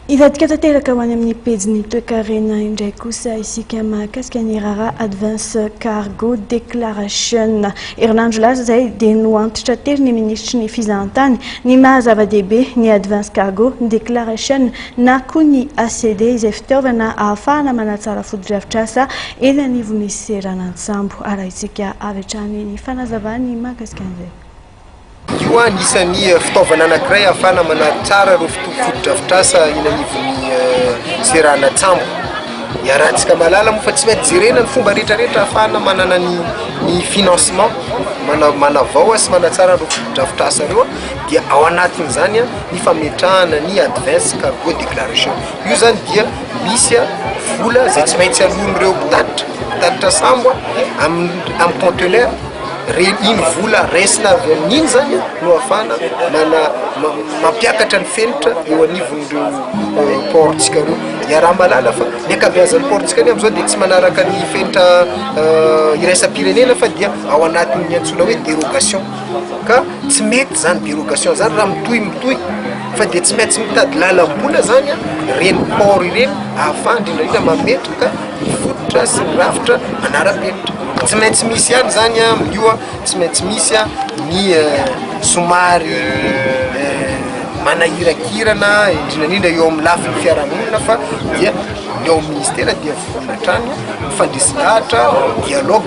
Hivadika tanteraka ho any amin'ny pejin'ny toekarena indray kosa isika mahakasika ny raharaha Advance Cargo Declaration. Herinandro lasa izay dia noantitra tery ny minisitry ny fizahantany ny maha zava-dehibe ny Advance Cargo Declaration na koa ny ACD izay fitaovana ahafahana manatsara fotodrafitrasa eny anivon'ny seranantsambo. Arahintsika avy hatrany ny fanazavany mahakasika an'izay. Io koa anisan'ny fitaovana anankiray ahafahana manary tsara ireo fotodrafitrasa eny anivon'ny seranan-tsambo. Iarahantsika mahalala moa fa tsy maintsy jerena ny fomba rehetrarehetra ahafahana manana ny financement, manavaoa sy manatsara ireo fotodrafitrasa ireo dia ao anatin'izany ny fametrahana ny advance cargo declaration. Io izany dia misy vola izay tsy maintsy aloan'ireo mpitatitra mpitatitra sambo amin'ny conteneur. Reny iny vola resina avy amin'iny zany no ahafahana mana- ma- mampiakatra ny fenitra eo anivon'ireo eh, port-tsika ireo. Iaraha-mahalala fa ny ankabeazan'ny port-tsika anie amin'izao dia tsy manaraka ny fenitra eh, iraisam-pirenena fa dia ao anatin'ny antsoina hoe dérogation. Ka tsy mety zany dérogation zany raha mitohy mitohy fa dia tsy maintsy mitady lalam-bola zany ireny port ireny ahafahana indrindra indrindra mametraka ny fototra sy ny rafitra manara-penitra. Tsy maintsy misy ihany izany amin'io an, tsy maintsy misy ny somary manahirakirana indrindra indrindra eo amin'ny lafiny fiarahamonina fa dia ny ao amin'ny minisitera dia vonona hatrany ny fandresy lahatra, dialogue.